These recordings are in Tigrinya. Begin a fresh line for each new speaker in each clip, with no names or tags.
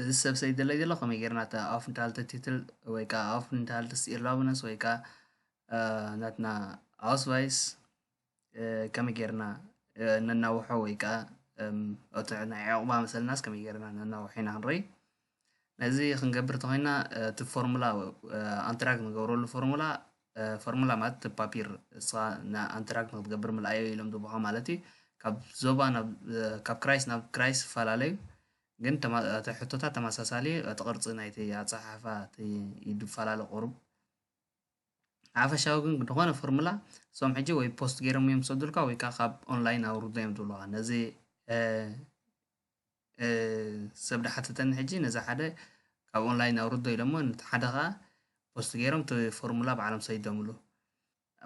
እዚ ሰብ እዚ ዝድለ ዘሎ ከመይ ጌርና እታ ኣውፍ ኢንትሃልተትትል ወይ ከኣ ኣውፍ ኢንትሃልትስ ኢርላውነስ ወይ ከኣ ናትና ኣውስቫይስ ከመይ ጌርና ነናውሖ ወይ ከኣ እቲ ናይ ዕቝባ መሰልናስ ከመይ ጌርና ነናውሖ ኢና ክንርኢ ነዚ ክንገብር እንተዄንና እቲ ፎርሙላ ኣንትራግ ንገብረሉ ፎርሙላ ፎርሙላ ማለት እቲ ፓፒር እስኻ ንኣንትራክት ንክትገብር ምልኣዮ ኢሎም ዝቡኻ ማለት እዩ ካብ ዞባ ካብ ክራይስ ናብ ክራይስ ይፈላለዩ ግን እቲ ሕቶታት ተመሳሳሊ እዩ እቲ ቅርፂ ናይቲ ኣፀሓሕፋ እቲ ይፈላለ ቁሩብ ሓፈሻዊ ግን ዝኾነ ፎርሙላ እሶም ሕጂ ወይ ፖስት ገይሮም እዮም ዝሰዱልካ ወይ ከዓ ካብ ኦንላይን ኣውርዶ እዮም ዝብሉካ ነዚ ሰብ ዳሓተተኒ ሕጂ ነዚ ሓደ ካብ ኦንላይን ኣውርዶ ኢሎሞ ነቲ ሓደ ከኣ ፖስት ገይሮም እቲ ፎርሙላ ባዕሎም ሰዲዶምሉ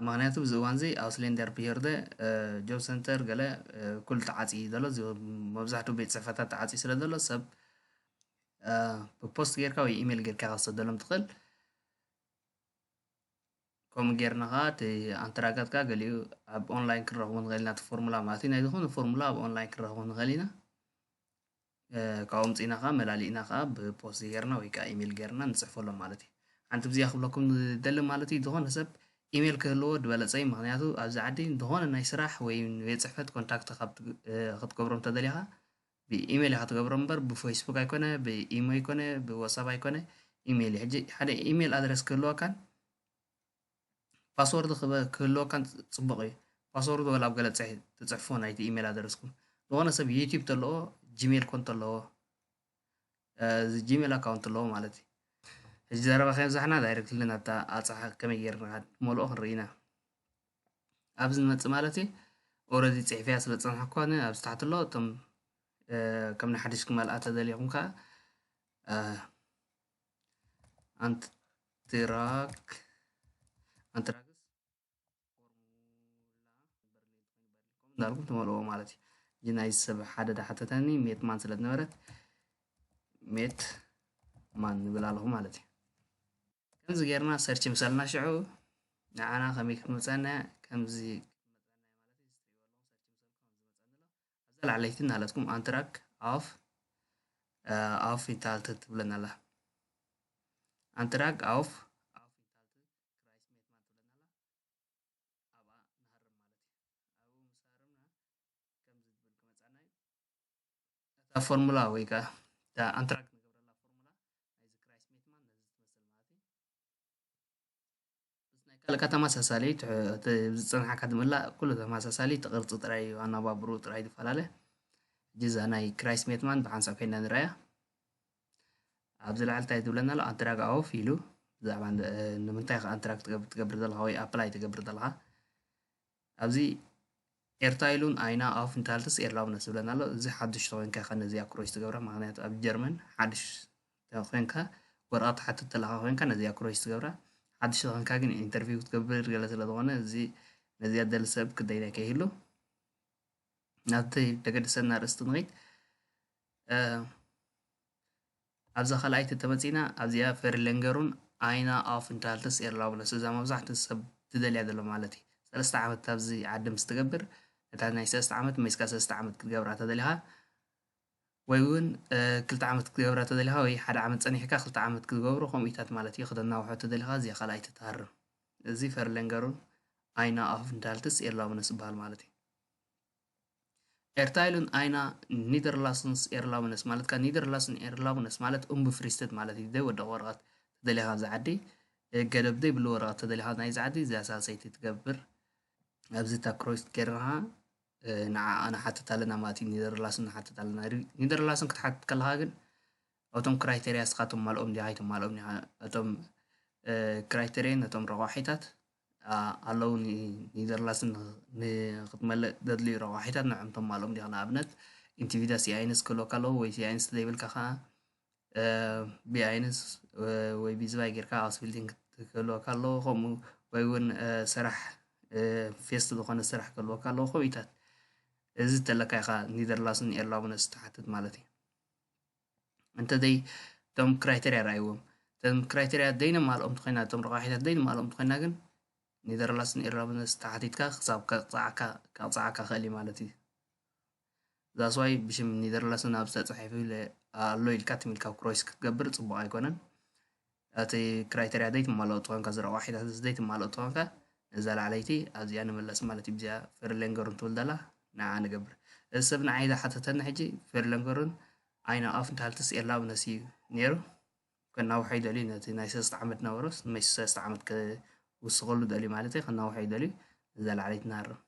ምክንያቱ ብዚ እዋን እዚ ኣውስሌንደር ብሄርደ ጆብ ሰንተር ገለ ኩሉ ተዓጽዩ እዩ ዘሎ መብዛሕትኡ ቤት ጽሕፈታት ተዓጽዩ ስለ ዘሎ ሰብ ብፖስት ጌርካ ወይ ኢሜል ጌርካ ከሰደሎም ትኽእል ከምኡ ጌርና ከኣ እቲ ኣንተራጋትካ ገሊኡ ኣብ ኦንላይን ክንረኽቦ ንኽእል ኢና እቲ ፎርሙላ ማለት እዩ ናይ ዝኾነ ፎርሙላ ኣብ ኦንላይን ክንረኽቦ ንኽእል ኢና ካብኡ ምፅኢና ከዓ መላሊእና ከዓ ብፖስት ጌርና ወይ ከዓ ኢሜል ጌርና ንፅሕፈሎም ማለት እዩ ሓንቲ ብዚኣ ክብለኩም ዝደሊ ማለት እዩ ዝኾነ ሰብ ኢሜል ክህልዎ ዝበለፀ እዩ ምክንያቱ ኣብዚ ዓዲ ዝኾነ ናይ ስራሕ ወይ ቤት ፅሕፈት ኮንታክት ክትገብሮም ተደሊኻ ብኢሜል ኢካ ትገብሮ እምበር ብፈይስቡክ ኣይኮነ ብኢሞ ኣይኮነ ብወሳብ ኣይኮነ ኢሜል እዩ ሕጂ ሓደ ኢሜል ኣድረስ ክህልወካን ፓስወርድ ክህልወካን ጽቡቅ እዩ ፓስወርድ ወላ ኣብ ገለ ትጽሕፎ ናይቲ ኢሜል ኣድረስኩም ዝኾነ ሰብ ዩቲብ ተለዎ ጂሜል ኮን ተለዎ ጂሜል ኣካውንት ኣለዎ ማለት እዩ ሕጂ ዘረባ ከየብዛሕና ዳይረክትሊ ናብታ ኣጻሓ ከመይ ጌርና ንኸድ ሞልኦ ክንርኢ ኢና ኣብዚ ንመጽእ ማለት እዩ ኦረዲ ጽሒፍያ ስለ ዝጸንሓኩ ኣነ ኣብዚ ታሕቲ ኣሎ እቶም ከም ንሓድሽ ክመልኣ ተደልኹም ከዓ ኣንትራክ ኣንትራክስ እንዳልኩም ትመልእዎ ማለት እዩ እዚ ናይ ሰብ ሓደ ዳሓተተኒ ሜት ማን ስለ ዝነበረት ሜት ማን ንብል ኣለኹ ማለት እዩ ከምዚ ጌርና ሰርች ምስ ኣልና ሽዑ ንዓና ከመይ ክትመፀና ከምዚ ኣብዛ ላዕለይቲ እናለትኩም ኣንትራክ ኣፍ ኣፍ ይታልትት ትብለና ኣላ ኣንትራክ ኣፍ ክራይስት ሜትማን ትብለና ኣላ ኣብኣ ንሃርም ማለት እዩ ኣብኡ ምስ ሃርምና ከምዚ ዝብል ክመፃና እዩ እታ ፎርሙላ ወይ ከዓ እታ ኣንትራክት ንገብረላ ፎርሙላ ናይዚ ክራይስት ሜትማን ነዚ ትመስል ማለት እዩ ምስ ናይ ካልእካ ተመሳሳሊ ዝፅንሓካ ዝምላእ ኩሉ ተመሳሳሊ እቲ ቅርፂ ጥራይ እዩ ኣነባብሩ ጥራይ ዝፈላለ እዛ ናይ ክራይስት ሜትማን ብሓንሳብ ኮይና ንረኣያ ኣብዚ ላዕሊ እንታይ ትብለና ኣሎ ኣድራግ ኣወፍ ኢሉ ብዛዕባ ንምንታይ ከ ኣድራግ ትገብር ዘለካ ወይ ኣፕላይ ትገብር ዘለካ ኣብዚ ኤርታይሉን ኣይና ኣፍ እንታልትስ ኤርላብነስ ዝብለና ኣሎ እዚ ሓድሽ ተኮይንካ ከ ነዚ ኣክሮች ትገብራ ምክንያቱ ኣብ ጀርመን ሓድሽ ተኮይንካ ወረቀት ትሓትት ዘለካ ኮይንካ ነዚ ኣክሮች ትገብራ ሓድሽ ተኮይንካ ግን ኢንተርቪው ክትገብር ገለ ስለ ዝኮነ እዚ ነዚኣ ደሊ ሰብ ክደይናይ ከይህሉ ናብቲ ደገድሰና ኣርእስቲ ንኺድ ኣብዛ ካልኣይቲ እንተመፂና ኣብዚኣ ፌርለንገሩን ኣይና ኣፍ እንታልትስ ኤርላብለስ እዛ መብዛሕት ሰብ ትደልያ ዘሎ ማለት እዩ ሰለስተ ዓመት ኣብዚ ዓዲ ምስ ትገብር እታ ናይ ሰለስተ ዓመት መይስካ ሰለስተ ዓመት ክትገብራ ተደሊኻ ወይ እውን ክልተ ዓመት ክትገብራ ተደሊኻ ወይ ሓደ ዓመት ፀኒሕካ ክልተ ዓመት ክትገብሩ ከምኡታት ማለት እዩ ክተናውሖ ተደሊኻ እዚኣ ካልኣይ ትትሃርም እዚ ፈርለንገሩን ኣይና ኣፍ እንታልትስ ኤርላብለስ ይበሃል ማለት እዩ ኤርታይልን ኣይና ኒደርላስንስ ኤርላውነስ ማለት ካብ ኒደርላስን ኤርላውነስ ማለት ኡምብፍሪስተት ማለት እዩ ደይ ወደቕ ወረቐት ተደሊኻ ኣብዚ ዓዲ ገደብ ዘይብሉ ወረቐት ተደሊኻ ናይዚ ዓዲ እዚኣ ሳልሰይቲ ትገብር ኣብዚ እታ ክሮይስት ጌርናኻ ንዓኣ ንሓትት ኣለና ማለት እዩ ኒደርላስን ንሓትት ኣለና ኒደርላስን ክትሓትት ከለኻ ግን እቶም ክራይተርያ እስኻ ተማልኦም ዲኻ ኣይተማልኦም ዲኻ እቶም ክራይተርያ ነቶም ረቋሒታት ኣለዉ ኒዘርላስን ንክትመልእ ዘድልዩ ረቋሒታት ንዕም ተማልኦም ዲኻ ንኣብነት ኢንቲቪዳ ሲኣይንስ ክህልወካ ኣለዎ ወይ ሲኣይንስ ዘይብልካ ከዓ ብኣይንስ ወይ ብዝባይ ጌርካ ኣስቢልቲን ክህልወካ ኣለዎ ከምኡ ወይ እውን ስራሕ ፌስት ዝኾነ ስራሕ ክህልወካ ኣለዎ ከምኢታት እዚ ተለካ ኢኻ ኒዘርላስን ኤርላቡነስ ትሓትት ማለት እዩ እንተዘይ እቶም ክራይተርያ ረኣይዎም እቶም ክራይተርያ ዘይነማልኦም እንተኮይና እቶም ረቛሒታት ዘይነማልኦም እንተኮይና ግን ኔዘርላንድስን ኤርራብነስ ተሓቲትካ ክሳብ ከቕፅዓካ ከቕፅዓካ ክእል እዩ ማለት እዩ ዛስዋይ ብሽም ኔዘርላንድስ ናብ ዝተፅሒፉ ኣሎ ኢልካ ትም ኢልካ ክሮይስ ክትገብር ፅቡቅ ኣይኮነን እቲ ክራይተርያ ዘይትማልኦ ተኾንካ እዚ ረቋሒታት እዚ ዘይትማልኦ ተኾንካ ነዛ ላዕለይቲ ኣብዚኣ ንመለስ ማለት እዩ ብዚኣ ፈርለንገሩን ትብል ዘላ ንዓ ንገብር እዚ ሰብ ንዓይ ዝሓተተኒ ሕጂ ፈርለንገሩን ዓይና ኣፍ እንተሃልትስ ኤላብ ነሲ እዩ ነይሩ ከናውሖ ይደልዩ ነቲ ናይ ሰለስተ ዓመት ነበሮስ ንመሽ ሰለስተ ዓመት ክውስኸሉ ደልዩ ማለት እዩ ከናውሖ ይደልዩ ነዛ ላዕለይቲ ንሃርም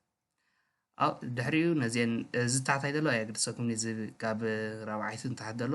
ኣብ ድሕሪኡ ነዚአን እዚ ታሕታይ ዘሎ ኣየግድሰኩም እዚ ካብ ራብዓይቲ ንታሕት ዘሎ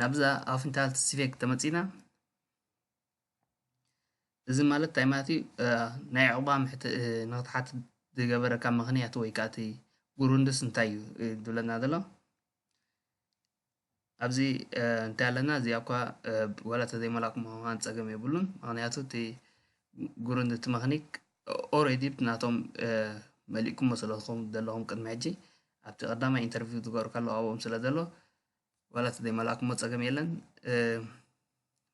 ናብዛ ኣፍንታልት ሲፌክ ተመጺና እዚ ማለት እንታይ ማለት እዩ ናይ ዕቑባ ንክትሓትት ዝገበረካ ምክንያት ወይ ከዓ እቲ ጉሩንድስ እንታይ እዩ ዝብለና ዘሎ ኣብዚ እንታይ ኣለና እዚኣ እኳ ዋላ ተዘይመላእኩም ምዃን ፀገም የብሉን ምክንያቱ እቲ ጉሩንድ እቲ መክኒክ ኦሬዲ ናቶም መሊእኩሞ ስለዝኾም ዘለኹም ቅድሚ ሕጂ ኣብቲ ቀዳማይ ኢንተርቪው ዝገበርካሉ ኣብኦም ስለ ዘሎ ዋላ ተዘይመላእኩሞ ፀገም የለን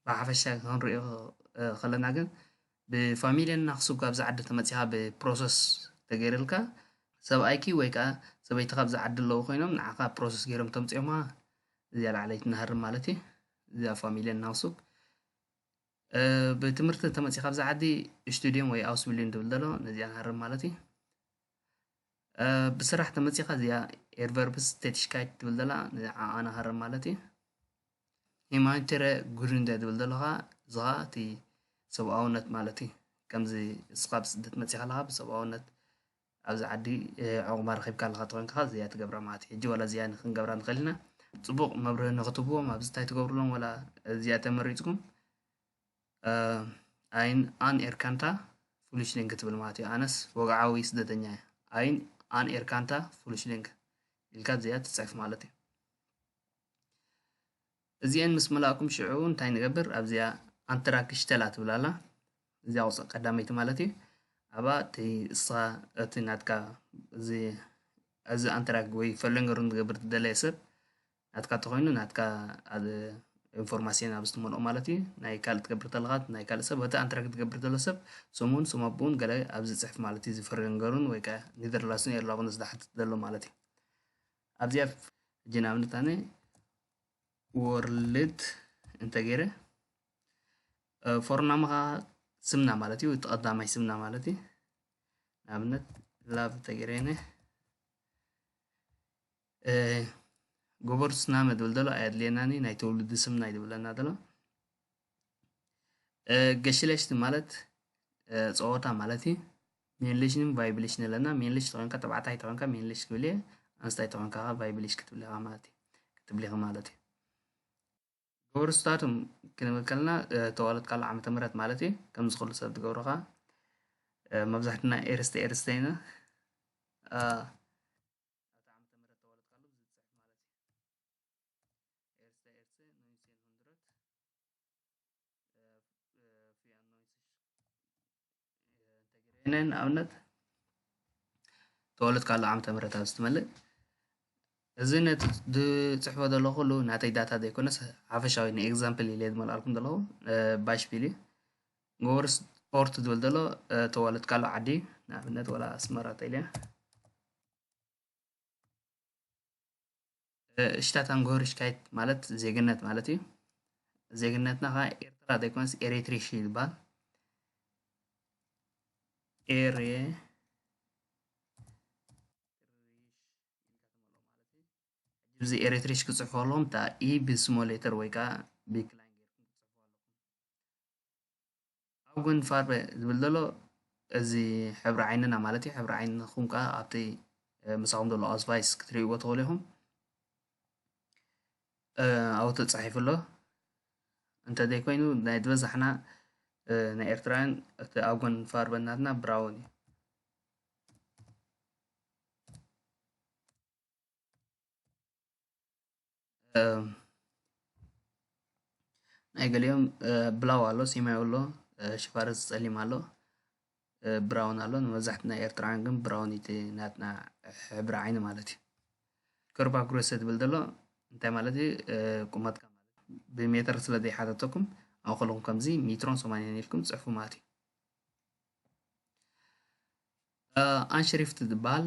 ብሓፈሻ ክንሪኦ ከለና ግን ብፋሚልየን እና ክስብ ካብዚ ዓዲ ተመፂኻ ብፕሮሰስ ተገይርልካ ሰብኣይኪ ወይ ከዓ ሰበይቲ ካብዚ ዓዲ ኣለዉ ኮይኖም ንዓኻ ፕሮሰስ ገይሮም ተምፅኦማ እዚኣ ላዕለይቲ ናሃርም ማለት እዩ እዚኣ ፋሚልየን እና ክስብ ብትምህርቲ ተመፂ ካብዚ ዓዲ ስቱድዮም ወይ ኣውስቢልዩን ዝብል ዘሎ ነዚኣ ንሃርም ማለት እዩ ብስራሕ ተመፂኻ እዚኣ ኤድቨርብስ ቴቲሽካይት ትብል ዘላ ንዓ ኣናሃርም ማለት እዩ ሂማንቸረ ጉድንደ ትብል ዘሎ ከዓ እዚ ከዓ እቲ ሰብኣውነት ማለት እዩ ከምዚ እስኻ ብስደት መፂኻ ኣለኻ ብሰብኣውነት ኣብዚ ዓዲ ዕቑባ ረኺብካ ኣለኻ ተኾይንካ ከዓ እዚኣ ትገብራ ማለት እዩ ሕጂ ዋላ እዚኣ ክንገብራ ንኽእል ኢና ፅቡቕ መብርሂ ንኽትህብዎም ኣብዚ እንታይ ትገብርሎም ዋላ እዚኣ ተመሪፅኩም ኣይን ኣን ኤርካንታ ፍሉሽሊንግ ክትብል ማለት እዩ ኣነስ ወግዓዊ ስደተኛ እየ ኣይን ኣን ኤርካንታ ፍሉሽሊንግ ኢልካ እዚኣ ትፅሕፍ ማለት እዩ እዚአን ምስ መላእኩም ሽዑ እንታይ ንገብር ኣብዚኣ ኣንትራክሽተላ ትብል ኣላ እዚኣ ቁፅ ቀዳመይቲ ማለት እዩ ኣብኣ እቲ እስኻ እቲ ናትካ እዚ እዚ ኣንትራክ ወይ ፈለንገሩን ዝገብር ትደለየ ሰብ ናትካ እንተኾይኑ ናትካ ኣብ ኢንፎርማሲን ኣብ ዝትመልኦ ማለት እዩ ናይ ካልእ ትገብር ተለኻ ናይ ካልእ ሰብ እቲ ኣንትራ ክትገብር ዘሎ ሰብ ስሙን ስም ኣቦኡን ገለ ኣብ ዝፅሕፍ ማለት እዩ ዝፈረንገሩን ወይ ከዓ ኒደርላስን ኤርላኹን ዝሓትት ዘሎ ማለት እዩ ኣብዚኣ ሕጂ ንኣብነት ኣነ ወርልድ እንተገይረ ፎርናምኻ ስምና ማለት እዩ እቲ ቀዳማይ ስምና ማለት እዩ ንኣብነት ላቭ ተገይረ ጎቦር ስና መድብል ደሎ ኣየድልየናኒ ናይ ተውልዲ ስምና እዩ ዝብለና ደሎ ገሽለሽቲ ማለት ፀወታ ማለት እዩ ሜንሌሽንን ቫይብሌሽን ኣለና ሜንሌሽ ተኮንካ ተባዕታይ ተኮንካ ሜንሌሽ ክብል እየ ኣንስታይ ተኮንካ ከ ቫይብሌሽ ክትብል ኢኻ ማለት እዩ ክትብል ኢኻ ማለት እዩ ጎቦር ስታቱም ክንብል ከለና ተዋለድካሉ ዓመተ ምህረት ማለት እዩ ከምዚ ኩሉ ሰብ ትገብሮ ከዓ መብዛሕትና ኤርስተ ኤርስተ ኢና ኣብቲ ዓመተ ምህረት ተወለድካሉ ብዝብል ትጽሕፍ ማለት እዩ። ኤርስተ ኤርትሰ ኖይንሴን ሁንድረት ፊያንኖይንስሽ ንኣብነት ተወለድካሉ ዓመተ ምህረት ኣብ ዝትመልእ እዚ ነቲ ዝፅሕፎ ዘለኹ ኩሉ ናተይ ዳታ ዘይኮነስ ሓፈሻዊ ንኤግዛምፕል ኢለ ዝመልኣልኩም ዘለኹ ባሽፒል እዩ ጎወር ስፖርት ዝብል ዘሎ ተዋለድካሉ ዓዲ ንኣብነት ወላ ኣስመራ ተልያ ሽታት ኣንጎሪሽካይት ማለት ዜግነት ማለት እዩ ዜግነትና ከዓ ኤርትራ ዘይኮነስ ኤሪትሪሽ እዩ ዝበሃል ኤሬ እዚ ኤሪትሪሽ ክፅሕፎ ኣለዎም እታ ኢ ብስሞሌተር ወይ ከዓ ብክላይን ኣውግን ፋርቨ ዝብል ዘሎ እዚ ሕብሪ ዓይንና ማለት እዩ ሕብሪ ዓይንኹም ከዓ ኣብቲ ምሳኹም ዘሎ ኣስቫይስ ክትርእይዎ ትኽእሉ ኢኹም ኣብኡ ተፃሒፉ ኣሎ እንተዘይኮይኑ ናይ ዝበዛሕና ናይ ኤርትራውያን እቲ ኣውግን ፋርቨ ናትና ብራውን እዩ ናይ ገሊኦም ብላው ኣሎ ሰማያዊ ኣሎ ሽፋርስ ፀሊም ኣሎ ብራውን ኣሎ ንመብዛሕት ናይ ኤርትራውያን ግን ብራውን እቲ ናትና ሕብሪ ዓይኒ ማለት እዩ ቅርባ ጉረሰ ትብል ዘሎ እንታይ ማለት እዩ ቁመትካ ብሜትር ስለ ዘይሓተተኩም ኣብ ከለኹም ከምዚ ሜትሮን ሰማንያን ኢልኩም ፅሑፉ ማለት እዩ ኣንሽሪፍት ዝበሃል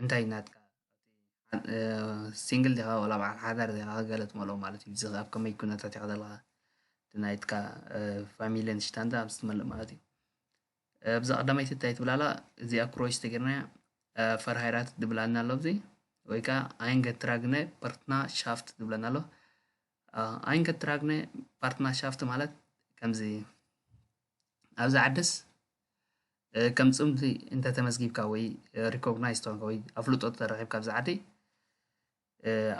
እንታይ ናትካ ሲንግል ዲኻ ዋላ በዓል ሓዳር ዲኻ ገለ ትመልኦ ማለት እዩ። እዚ ኸ ኣብ ከመይ ኩነታት ኢኻ ዘለኻ እቲ ናይትካ ፋሚልን ሽታንዳ ምስ ትመልእ ማለት እዩ። ኣብዛ ቀዳመይቲ እንታይ ትብል ኣላ እዚኣ ክሮች ተገይርናያ ፈርሃይራት ድብላና ኣሎ ኣብዚ ወይ ከዓ ኣይንገትራግነ ፓርትና ሻፍት ድብለና ኣሎ ኣይንገትራግነ ፓርትና ሻፍት ማለት ከምዚ ኣብዚ ዓድስ ከም ፅምዲ እንተተመዝጊብካ ወይ ሪኮግናይዝ ተኾንካ ወይ ኣፍልጦ ተረኺብካ ኣብዚ ዓዲ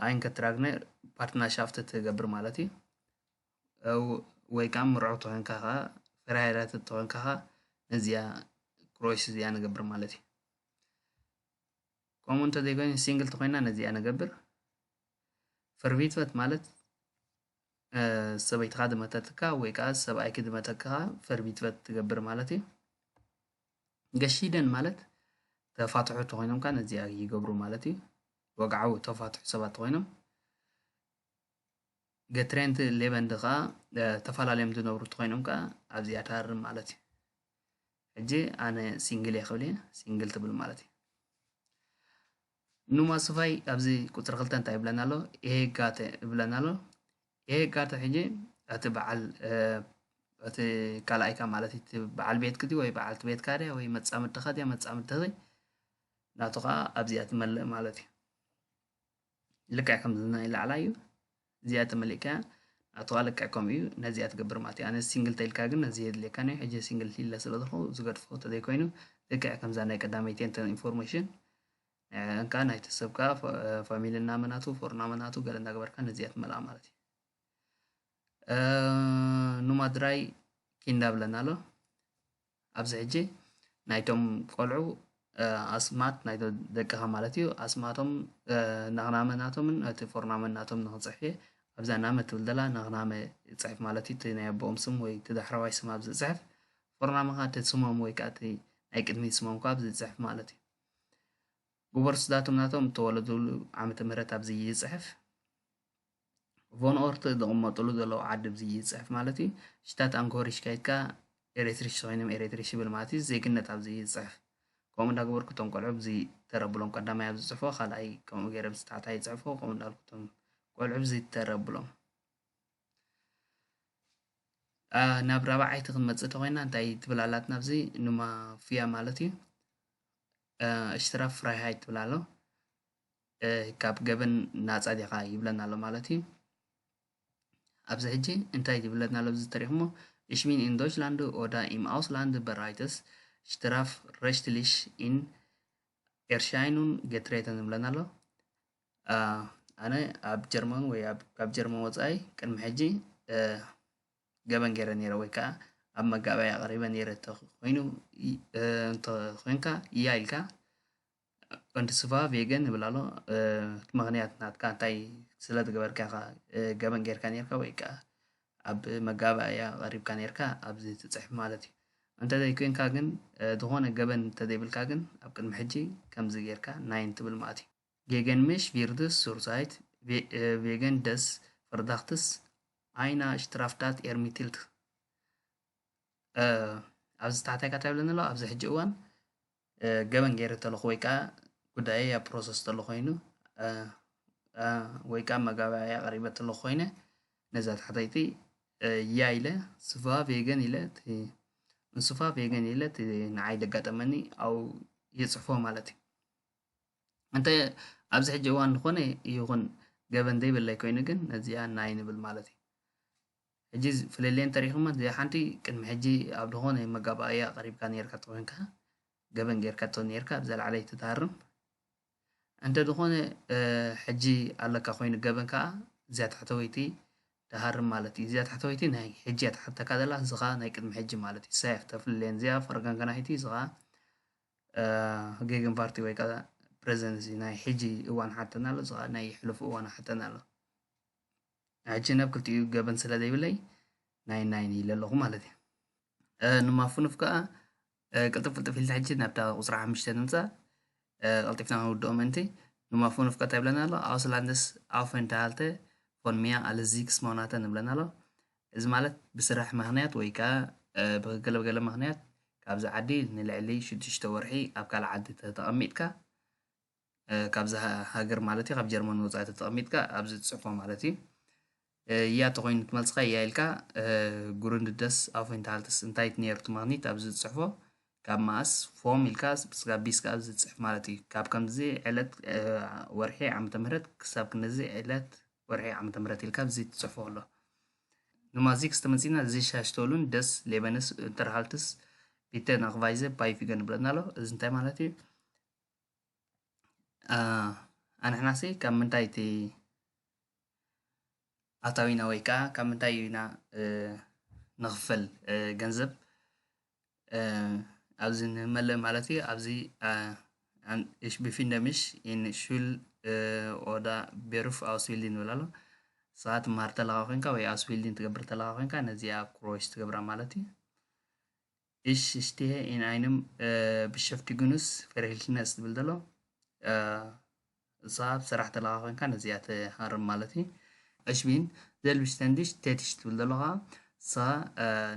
ኣይንከትራግነ ፓርትናሻፍት ትገብር ማለት እዩ ወይ ከዓ ምርዑ ተኾንካ ከዓ ፈራይራት ተኾንካ ከዓ ነዚኣ ክሮይስ እዚኣ ንገብር ማለት እዩ ከምኡ እንተዘይኮይኑ ሲንግል ተኾይና ነዚኣ ንገብር ፈርቪትበት ማለት ሰበይትኻ ድመተትካ ወይ ከዓ ሰብኣይኪ ድመተክኻ ፈርቢትበት ትገብር ማለት እዩ። ገሺደን ማለት ተፋትሑ ተኾይኖም ከዓ ነዚኣ ይገብሩ ማለት እዩ። ወግዓዊ ተፋትሑ ሰባት ተኾይኖም ገትሬንት ሌበንድ ከዓ ተፈላለዮም ዝነብሩ ተኾይኖም ከዓ ኣብዚኣ ታርም ማለት እዩ። ሕጂ ኣነ ሲንግል እየ ክብል እየ ሲንግል ትብል ማለት እዩ። ኑማ ስፋይ ኣብዚ ቁፅሪ ክልተ እንታይ ይብለና ኣሎ ኤሄጋተ ይብለና ኣሎ ኤሄጋተ ሕጂ እቲ በዓል እቲ ካልኣይካ ማለት እቲ በዓል ቤትክ ድዩ ወይ በዓልቲ ቤትካ ድያ ወይ መፃምድትኻ ድያ መፃምድትኺ ናቱ ከዓ ኣብዚኣ ትመልእ ማለት እዩ ልክዕ ከምዚ ናይ ላዕላ እዩ እዚኣ ተመሊእካያ ናቱ ኣለቃ ከምኡ እዩ ነዚኣ ትገብር ማለት እዩ ኣነ ሲንግል ተልካ ግን ነዚ የድልየካን እዩ ሕጂ ሲንግል ሊለ ስለ ዝኾ ዝገድፎ ተዘይኮይኑ ልክዕ ከምዛ ናይ ቀዳመይቲ እንተ ኢንፎርሜሽን እንካ ናይቲ ሰብ ከዓ ፋሚሊ እናመናቱ ፎር እናመናቱ ገለ እናገበርካ ነዚኣ ትመልኣ ማለት እዩ ኑማድራይ ኪንዳ ብለና ኣሎ ኣብዚ ሕጂ ናይቶም ቆልዑ ኣስማት ናይ ደቅኻ ማለት እዩ ኣስማቶም ናኽናመ ናቶምን እቲ ፎርናመ ናቶም ንክፅሕፍ እየ ኣብዛ ናመ ትብል ዘላ ናኽናመ ፅሕፍ ማለት እዩ እቲ ናይ ኣቦኦም ስም ወይ እቲ ዳሕረዋይ ስም ኣብዚ ፅሕፍ ፎርናመ ከዓ እቲ ስሞም ወይ ከዓ እቲ ናይ ቅድሚት ስሞም ከዓ ኣብዚ ፅሕፍ ማለት እዩ ግበር ስዳቶም ናቶም እተወለድሉ ዓመተ ምህረት ኣብዚ ይፅሕፍ ቮን ኦርት ዝቕመጥሉ ዘለዉ ዓዲ ብዚ ይፅሕፍ ማለት እዩ ሽታት ኣንኮሪሽ ከይድካ ኤሬትሪሽ ኮይኖም ኤሬትሪሽ ይብል ማለት እዩ ዜግነት ኣብዚ ይፅሕፍ ከምኡ እንዳገበርኩ እቶም ቆልዑ ብዚ ተረብሎም ቀዳማይ ኣብ ዝፅሕፎ ካልኣይ ከምኡ ገይረ ብዚ ታሕታ ይፅሕፎ ከምኡ እንዳልኩ እቶም ቆልዑ ብዚ ተረብሎም ናብ ራብዓይቲ ክንመፅእ ተኮይና እንታይ ትብል ኣላትና ኣብዚ ንማፍያ ማለት እዩ እሽትራ ፍራይሃይት ትብል ኣሎ ካብ ገበን ናጻ ዲኻ ይብለና ኣሎ ማለት እዩ ኣብዚ ሕጂ እንታይ ይብለና ኣሎ እዚ ተሪኽሞ Ich bin in Deutschland oder im Ausland bereits strafrechtlich in Erscheinung getreten ዝብለና ኣሎ ኣነ ኣብ ጀርመን ወይ ካብ ጀርመን ወፃኢ ቅድሚ ሕጂ ገበን ገይረ ነይረ ወይ ከዓ ኣብ መጋበያ ኣቕሪበ ነይረ እንተኮይኑ እንተኮይንካ እያ ኢልካ ወዲ ስፋ ቬገን ይብል ኣሎ እቲ ምክንያት ናትካ እንታይ ስለ ዝገበርካ ኢኻ ገበን ጌርካ ኔርካ ወይ ከኣ ኣብ መጋባእያ ቀሪብካ ኔርካ ኣብዚ ትጽሕፍ ማለት እዩ እንተዘይ ኮንካ ግን ዝኾነ ገበን እንተዘይብልካ ግን ኣብ ቅድሚ ሕጂ ከምዚ ጌርካ ናይን ትብል ማለት እዩ ጌገን ምሽ ቪርድስ ሱርሳይት ቬገን ደስ ፍርዳክትስ ኣይና ሽትራፍዳት ኤርሚትልት ኣብዚ ታሕታይ ካታ ይብለኒ ኣሎ ኣብዚ ሕጂ እዋን ገበን ገይረ ተለኹ ወይ ከዓ ጉዳይ ኣብ ፕሮሰስ ተሎ ኮይኑ ወይ ከዓ መጋባእያ ቀሪበ ተሎ ኮይነ ነዛ ታሕተይቲ ያ ኢለ ስፋ ቬገን ኢለ እቲ እንስፋ ቬገን ኢለ እቲ ንዓይ ዘጋጠመኒ ኣብ የፅሕፎ ማለት እዩ እንተ ኣብዚ ሕጂ እዋን ዝኾነ ይኹን ገበን ዘይብለይ ኮይኑ ግን ነዚኣ ናይ ንብል ማለት እዩ ሕጂ ፍልልየን ተሪክመን ዘይሓንቲ ቅድሚ ሕጂ ኣብ ድኮነ መጋባእያ ቀሪብካ ኔርካ ተኮንካ ገበን ጌርካቶ ኔርካ ብዘላዕለይ ትታሃርም እንተ ድኮነ ሕጂ ኣለካ ኮይኑ ገበን ከኣ እዚኣ ታሕተወይቲ ትሃርም ማለት እዩ እዚኣ ታሕተወይቲ ናይ ሕጂ እያ ትሓተካ ዘላ እዚ ከኣ ናይ ቅድሚ ሕጂ ማለት እዩ ሳያ ተፍልልየን እዚኣ ፈርጋን ከናሒቲ እዚ ከኣ ጌግን ፓርቲ ወይ ከዓ ፕሬዚደንሲ ናይ ሕጂ እዋን ሓተና ኣሎ እዚ ከዓ ናይ ሕሉፍ እዋን ሓተና ኣሎ ንሕጂ ናብ ክልቲኡ ገበን ስለ ዘይብለይ ናይን ናይን ኢለ ኣለኹ ማለት እዩ ንማፉንፍ ከዓ ቅልጥፍ ቅልጥፍ ኢልና ሕጂ ናብታ ቁፅሪ ሓሙሽተ ንምፃእ ቀልጢፍና ክንውድኦ ምእንቲ ንማፉንፍ ከዓ እንታይ ይብለና ኣሎ ኣውስላንደስ ኣውፈንታሃልተ ፎን ሚያ ኣለ ዚክስ ማውናተ ንብለና ኣሎ እዚ ማለት ብስራሕ ምክንያት ወይ ከዓ ብገለ ገለ ምክንያት ካብዚ ዓዲ ንልዕሊ ሽዱሽተ ወርሒ ኣብ ካልእ ዓዲ ተቐሚጥካ ካብዛ ሃገር ማለት እዩ ካብ ጀርመን ወፃኢ ተተቐሚጥካ ኣብዚ ትፅሕፎ ማለት እዩ እያ ተኮይኑ ትመልስካ እያ ኢልካ ጉርንድደስ ኣፎይንታልትስ እንታይ ነይሩ ትማግኒት ኣብዚ ዝፅሕፎ ካብ ማእስ ፎም ኢልካ ስጋብ ቢስካ ኣብዚ ዝፅሕፍ ማለት እዩ ካብ ከምዚ ዕለት ወርሒ ዓመተ ምህረት ክሳብ ክንዚ ዕለት ወርሒ ዓመተ ምህረት ኢልካ ኣብዚ ትፅሕፎ ኣሎ ንማዚክ ዝተመፂና እዚ ሻሽቶሉን ደስ ሌበንስ እንተርሃልትስ ቢተን ኣክቫይዘ ባይፊገን ብለና ኣሎ እዚ እንታይ ማለት እዩ ኣንሕናሲ ካብ ምንታይ እቲ ኣታዊና ወይ ከኣ ካብ ምንታይ ኢና ንኽፈል ገንዘብ ኣብዚ ንመልእ ማለት እዩ ኣብዚ እሽ ቢፊንደ ምሽ ኢን ሹል ኦዳ ቤሩፍ ኣውስቢልዲንግ ዝብል ኣሎ ንስኻ ትምሃር እንተለኻ ኮይንካ ወይ ኣውስቢልዲንግ ትገብር እንተለኻ ኮይንካ ነዚኣ ክሮስ ትገብራ ማለት እዩ። እሽ እሽትየ ኢን ኣይንም ብሸፍቲ ግኑስ ፈሪህልትነስ ዝብል ዘሎ እሳ ኣብ ስራሕ ተለኻ ኮንካ ነዚኣ ትሃርም ማለት እዩ እሽ ቢን ዘልብሽ ተንድሽ ቴትሽ ትብል ዘሎ ከዓ እሳ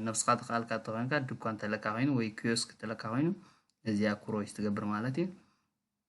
ነብስኻ ተኸኣልካ ተኾንካ ድኳን ተለካ ኮይኑ ወይ ክዮስክ ተለካ ኮይኑ ነዚኣ ኩሮሽ ትገብር ማለት እዩ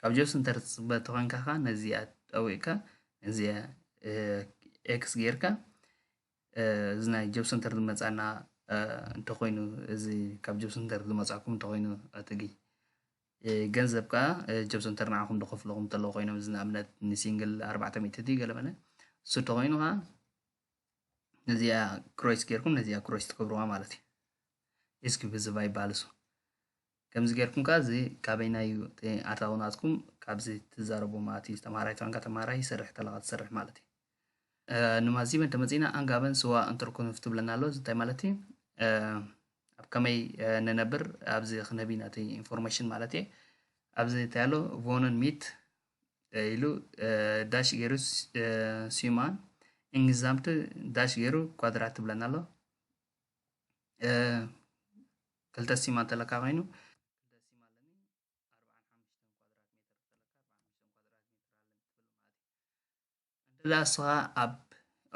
ካብ ጆሲ እንተ ትጽበ ተኾንካ ከኣ ነዚኣ ጠዊቕካ ነዚኣ ኤክስ ጌርካ እዚ ናይ ጆብ ሰንተር ዝመጻና እንተኾይኑ እዚ ካብ ጆብ ሰንተር ዝመጻኩም እንተኾይኑ ኣትጊ ገንዘብ ከዓ ጆብ ሰንተር ንዓኹም ዝኸፍልኹም እንተለዉ ኮይኖም እዚ ንኣብነት ንሲንግል ኣርባዕተ ሚእቲ ድዩ ገለ መለ እሱ እንተኾይኑ ከዓ ነዚኣ ክሮይስ ጌርኩም ነዚኣ ክሮይስ ትገብርዋ ማለት እዩ ኢስኪ ብዝባ ይበሃል እሱ ከምዚ ጌርኩም ከኣ እዚ ካበይናይ እዩ እቲ ኣታዊ ናትኩም ካብዚ ትዛረቡ ማእቲ ዝተማሃራይ ትራንካ ተማሃራይ ይሰርሕ ተለካ ትሰርሕ ማለት እዩ ንማዚብ እንተመጺእና ኣንጋበን ስዋ እንትርኩንፍ ትብለና ኣሎ እዚ እንታይ ማለት እዩ ኣብ ከመይ ንነብር ኣብዚ ክንህብ ኢና እቲ ኢንፎርሜሽን ማለት እየ ኣብዚ እንታይ ኣሎ ቮንን ሚት ኢሉ ዳሽ ገይሩ ሲማን ኢንግዛምት ዳሽ ገይሩ ኳድራት ትብለና ኣሎ ክልተ ሲም እንተለካ ኮይኑ እንተ እስኻ ኣብ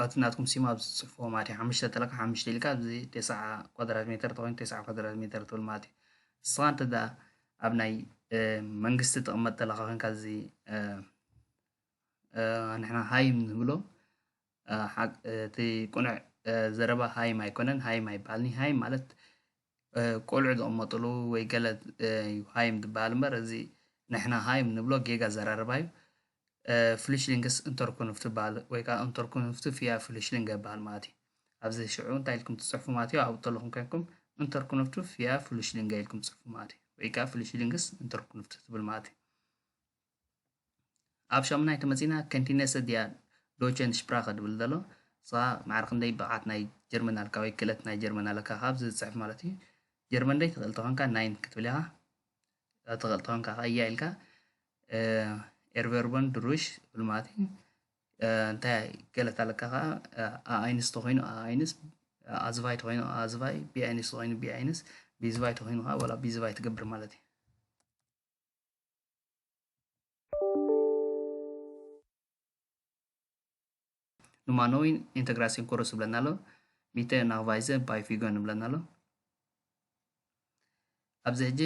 ኣብቲ ናትኩም ሲም ኣብ ዝፅሕፎ ማለት እዩ ሓሙሽተ እንተለካ ሓሙሽተ ኢልካ ኣብዚ ቴስዓ ኳድራት ሜትር ተኮይኑ ቴስዓ ኳድራት ሜትር ትብል ማለት እዩ ንስኻ እንተ ኣብ ናይ መንግስቲ ትቕመጥ ተለካ ኮንካ እዚ ንሕና ሃይ ንብሎ እቲ ቁኑዕ ዘረባ ሃይም ኣይኮነን ሃይም ኣይባሃልን ሃይም ማለት ቆልዑ ዝቅመጥሉ ወይ ገለ እዩ ሃይም ዝባሃል እምበር እዚ ንሕና ሃይም ንብሎ ጌጋ ኣዘራርባ እዩ ፍሊሽሊንግስ እንተርኩንፍ ትባሃል ወይ ከዓ እንተርኩንፍ ትፍያ ፍሊሽሊንግ ይባሃል ማለት እዩ ኣብዚ ሽዑ እንታይ ኢልኩም ትፅሕፉ ማለት እዩ ኣብኡ ዘለኹም ኮይንኩም እንተርኩንፍ ትፍያ ፍሊሽሊንግ ኢልኩም ትፅሕፉ ማለት እዩ ወይ ከዓ ፍሊሽሊንግስ እንተርኩንፍ ትብል ማለት እዩ ኣብ ሻሙናይ ተመጺና ከንቲነሰ ዲያ ዶቸን ሽፕራኸ ድብል ዘሎ ንስኻ ማዕረ ክንደይ ብቕዓት ናይ ጀርመን ኣልካ ወይ ክእለት ናይ ጀርመን ኣለካ ካብ ዝጽሕፍ ማለት እዩ ጀርመን ደይ ትኽእል ተኾንካ ናይን ክትብል ኢኻ ትኽእል ተኾንካ ከዓ እያ ኢልካ ኤርቨርቦን ድሩሽ ትብል ማለት እዩ እንታይ ገለት ኣለካ ከዓ ኣኣይንስ ተኾይኑ ኣኣይንስ ኣዝቫይ ተኾይኑ ኣዝቫይ ቢኣይንስ ተኾይኑ ቢኣይንስ ቢዝቫይ ተኾይኑ ከዓ ዋላ ቢዝቫይ ትገብር ማለት እዩ ኑማኖዊን ኢንተግራሲን ኮርስ ይብለና ኣሎ ሚተ ናቫይዘ ባይ ፊጎን ይብለና ኣሎ ኣብዚ ሕጂ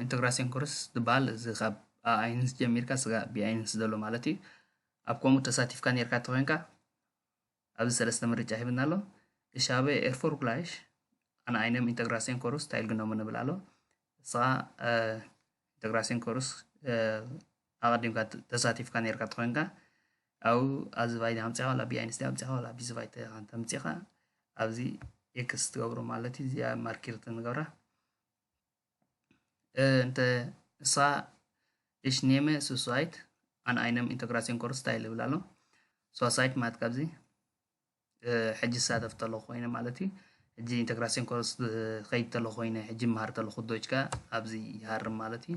ኢንተግራሲን ኮርስ ዝበሃል እዚ ካብ ኣኣይንስ ጀሚርካ ስጋ ብኣይንስ ዘሎ ማለት እዩ ኣብ ከምኡ ተሳቲፍካ ነርካ ተኮይንካ ኣብዚ ሰለስተ ምርጫ ሂብና ኣሎ። Ich habe erfolgreich an einem Integrationskurs teilgenommen ንብል ኣሎ። ንስኻ ኢንተግራሲዮን ኮርስ ኣቐዲምካ ተሳቲፍካ ነርካ ተኮይንካ ኣብ ኣብዚ ቫይዲ ኣምፂኻ ዋላ ቢኣይንስ ዲ ኣምፂኻ ዋላ ቢዚ ቫይተ እንተምፂኻ ኣብዚ ኤክስ ትገብሮ ማለት እዩ እዚኣ ማርኪር ትንገብራ Eh, inte sa ich nehme Suicide an einem Integrationskurs teil ይብል ኣሎ ሱሳይድ ማለት ካብዚ ሕጂ ዝሳተፍ ተሎ ኮይነ ማለት እዩ ሕጂ ኢንተግራሲዮን ኮርስ ከይድ ተሎ ኮይነ ሕጂ መሃር ተለኹ ዶች ከ ኣብዚ ይሃርም ማለት እዩ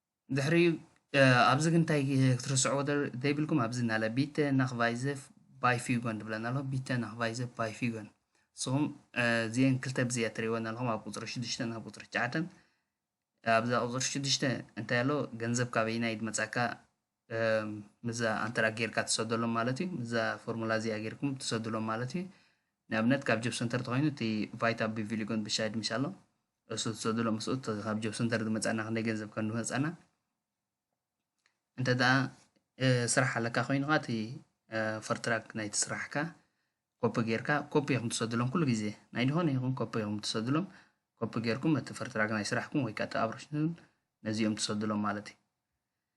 ድሕሪ ኣብዚ ግን እንታይ ክትርስዕዎ ዘይብልኩም ኣብዚ እናለ ቢተ ናክቫይዘፍ ባይፊጎን ትብለን ኣለኹ ቢተ ናክቫይዘፍ ባይፊጎን ንስኹም እዚአን ክልተ ብዚያ ትሪእወን ኣለኹም ኣብ ቁፅሪ ሽዱሽተን ኣብ ቁፅሪ ትሽዓተን ኣብዛ ቁፅሪ ሽዱሽተ እንታይ ኣሎ ገንዘብ ካበይና እዩ መፃካ ምስዛ ኣንትራክ ጌርካ ትሰደሎም ማለት እዩ ምስዛ ፎርሙላ እዚኣ ጌርኩም ትሰድሎም ማለት እዩ ንኣብነት ካብ ጆብ ሰንተር ተኮይኑ እቲ ቫይታ ብቪሊጎን ብሻይድ ምሽ ኣሎ እሱ ትሰድሎ ምስኡ ካብ ጆብ ሰንተር ዝመፃና ክንደይ ገንዘብ ከም ዝመፃና እንተደኣ ስራሕ ኣለካ ኮይኑ ከዓ እቲ ፈርትራክ ናይቲ ስራሕካ ኮፒ ጌርካ ኮፒ ኢኹም ትሰድሎም ኩሉ ግዜ ናይ ዝኾነ ይኹን ኮፒ ኢኹም ትሰድሎም ኮፒ ጌርኩም እቲ ፈርትራክ ናይ ስራሕኩም ወይ ከዓ እቲ ኣብሮሽን ነዚኦም ትሰድሎም ማለት እዩ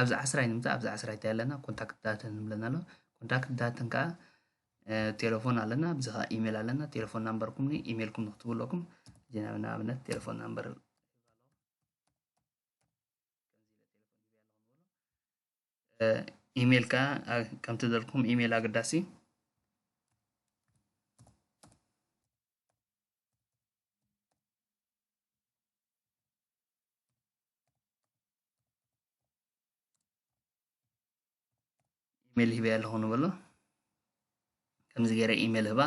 ኣብዚ ዓስራይ ንምጻእ ኣብዚ ዓስራይ እንታይ ኣለና ኮንታክት ዳተን ዝብለና ኣሎ ኮንታክት ዳተን ከዓ ቴሌፎን ኣለና ብዚ ከዓ ኢሜል ኣለና ቴሌፎን ናምበርኩም ኢሜልኩም ንክትቡ ኣለኩም ጀናብ ንኣብነት ቴሌፎን ናምበር ኢሜል ከዓ ከምቲ ዘልኩም ኢሜል ኣገዳሲ ኢሜል ሂበያ ኣለኹ ንበሎ ከምዚ ገይረ ኢሜል ህባ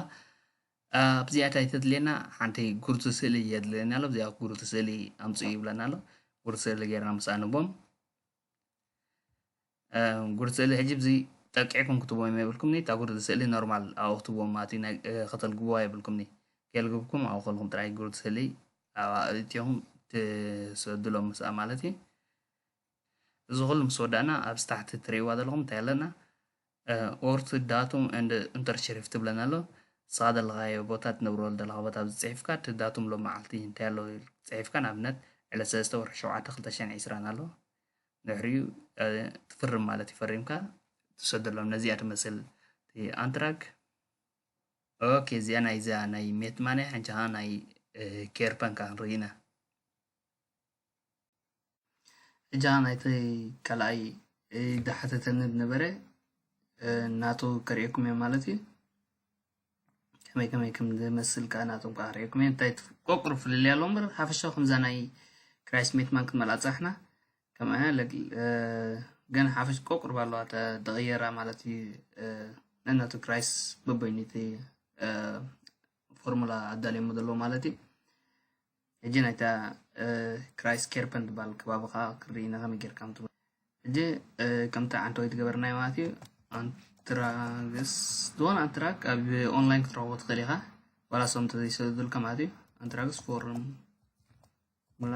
ኣብዚኣ እንታይ ተድልየና ሓንቲ ጉርቲ ስእሊ የድልየና ኣሎ እዚኣ ጉርቲ ስእሊ ኣምፅኡ ይብለና ኣሎ ጉርቲ ስእሊ ገይርና ምስ ኣንቦም ጉርዲ ስእሊ ሕጂ ብዚ ጠቂዕኩም ክትቦም የብልኩምኒ እታ ጉርዲ ስእሊ ኖርማል ኣብኡ ክትቦም ማቲ ከተልግብዋ የብልኩምኒ ከልግብኩም ኣብኡ ከልኩም ጥራይ ጉርዲ ስእሊ እትኹም ትሰድሎም ምስኣ ማለት እዩ እዚ ኩሉ ምስ ወዳእና ኣብ ስታሕቲ ትርእይዋ ዘለኹም እንታይ ኣለና ኦርት ዳቱም እንድ እንተርሽሪፍ ትብለና ኣሎ ንስኻ ዘለኻዮ ቦታ ትነብረሉ ዘለኻ ቦታ ኣብዚ ፅሒፍካ እቲ ዳቱም ሎ መዓልቲ እንታይ ኣሎ ፅሒፍካ ንኣብነት ዕለት ሰለስተ ወርሒ ሸውዓተ ክልተ ሸሕን ዒስራን ኣሎ ድሕሪኡ ትፍርም ማለት እዩ ፈሪምካ ትሰደሎም ነዚኣ ትመስል ኣንትራክ ኦኬ እዚኣ ናይዛ ናይ ሜት ማንያ ሓንቻ ከዓ ናይ ኬር ፓንካ ክንርኢ ኢና እጃ ናይቲ ካልኣይ ዳሓተተኒ ዝነበረ ናቱ ከርእየኩም እየ ማለት እዩ ከመይ ከመይ ከም ዝመስል ከዓ ናቶም ከዓ ርእየኩም እየ እንታይ ቆቅሩ ፍልልይ ኣሎ እምበር ሓፈሻዊ ከምዛ ናይ ክራይ ስሜት ማን ክንመልኣ ፅናሕና ከም ግን ሓፈሽ ቆቅሩ ባለዋ ተቀየራ ማለት እዩ ነናቱ ክራይስ በበይኑ እቲ ፎርሙላ ኣዳልዮሞ ዘለዎ ማለት እዩ ሕጂ ናይታ ክራይስ ኬርፐን ትባል ከባቢኻ ክርኢ ኢና ከመይ ጌርካ ምት ሕጂ ከምቲ ዓንተወይ ትገበርናዮ ማለት እዩ ኣንትራግስ ዝኾነ ኣንትራክ ኣብ ኦንላይን ክትረኽቦ ትኽእል ኢኻ ዋላ ሰም ተዘይሰዱልካ ማለት እዩ ኣንትራግስ ፎርም ሙላ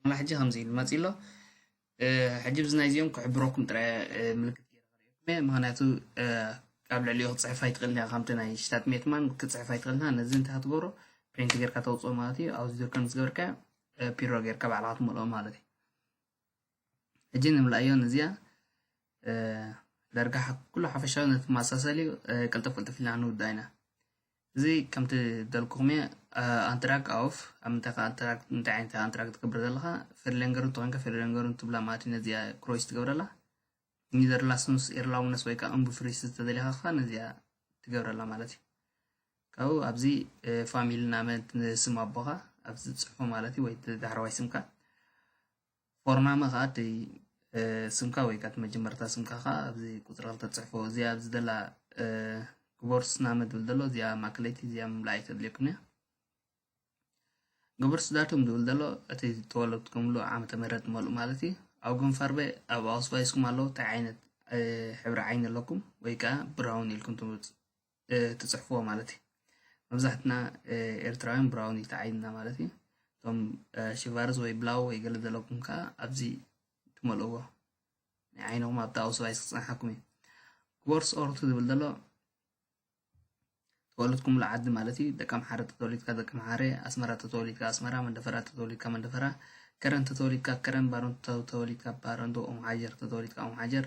ፎርሙላ ሕጂ ከምዚ ኢሉ መፅኡ ኣሎ ሕጂ ብዚ ናይዚኦም ክሕብረኩም ጥራይ ምልክት ገይረ ክርእየኩም እየ ምክንያቱ ኣብ ልዕሊኡ ክትፅሕፍ ኣይትኽእልን እያ ከምቲ ናይ ሽታት ሜትማን ክትፅሕፍ ኣይትኽእልና ነዚ እንታይ ክትገብሮ ፕሪንት ጌርካ ተውፅኦ ማለት እዩ ኣብዚ ዝርከብ ምስ ገበርካ ፒሮ ጌርካ ባዕልካ ትመልኦ ማለት እዩ ሕጂ ንምልኣዮ ንዚኣ ዳርጋ ኩሉ ሓፈሻዊ ንትመሳሰል እዩ ቅልጥፍ ቅልጥፍ ኢልና ንውድኣ ኢና እዚ ከምቲ ደልኩኹም እየ ኣንትራክ ኣውፍ ኣብ ምንታይ ከ ኣንትራክ እንታይ ዓይነት ኣንትራክ ትገብር ዘለኻ ፌርሌንገሩ እንተኮንካ ፌርሌንገሩ እንትብላ ማለት እዩ ነዚኣ ክሮይስ ትገብረላ ኒዘርላስንስ ኤርላውነስ ወይ ከዓ እምቡፍሪስ ዝተደሊኻ ከ ነዚኣ ትገብረላ ማለት እዩ ካብኡ ኣብዚ ፋሚሊ ናመ ስም ኣቦኻ ኣብዚ ትፅሕፎ ማለት እዩ ወይ ዳሕረዋይ ስምካ ፎርናመ ከኣ እቲ ስምካ ወይ ከኣ እቲ መጀመርታ ስምካ ከኣ ኣብዚ ቁጽሪ ክልተ ትጽሕፎ እዚኣ ኣብዚ ዘላ ግቦርስናመ ዝብል ዘሎ እዚኣ ማእከለይቲ እዚኣ ምምላእ ኣይተድልየኩም እያ ግብርስ ዳቱም ዝብል ዘሎ እቲ ዝተወለድኩምሉ ዓመተ ምህረት መልኡ ማለት እዩ ኣብ ግንፋርበ ኣብ ኣውስባይስኩም ኣለዉ እንታይ ዓይነት ሕብሪ ዓይኒ ኣለኩም ወይ ከዓ ብራውን ኢልኩም ትምፅ ትጽሕፍዎ ማለት እዩ መብዛሕትና ኤርትራውያን ብራውን ኢልቲ ዓይንና ማለት እዩ እቶም ሽቫርዝ ወይ ብላው ወይ ገለ ዘለኩም ከዓ ኣብዚ ትመልእዎ ናይ ዓይንኹም ኣብቲ ኣውስባይ ክፅንሓኩም እዩ ክቦርስ ኦርት ዝብል ዘሎ ተወለድኩምሉ ዓዲ ማለት እዩ ደቂ ኣምሓረ ተተወሊድካ ደቂ ኣምሓረ ኣስመራ ተተወሊድካ ኣስመራ መንደፈራ ተተወሊድካ መንደፈራ ከረን ተተወሊድካ ከረን ባረንቱ ተተወሊድካ ባረንቱ ኦም ሓጀር ተተወሊድካ ኦም ሓጀር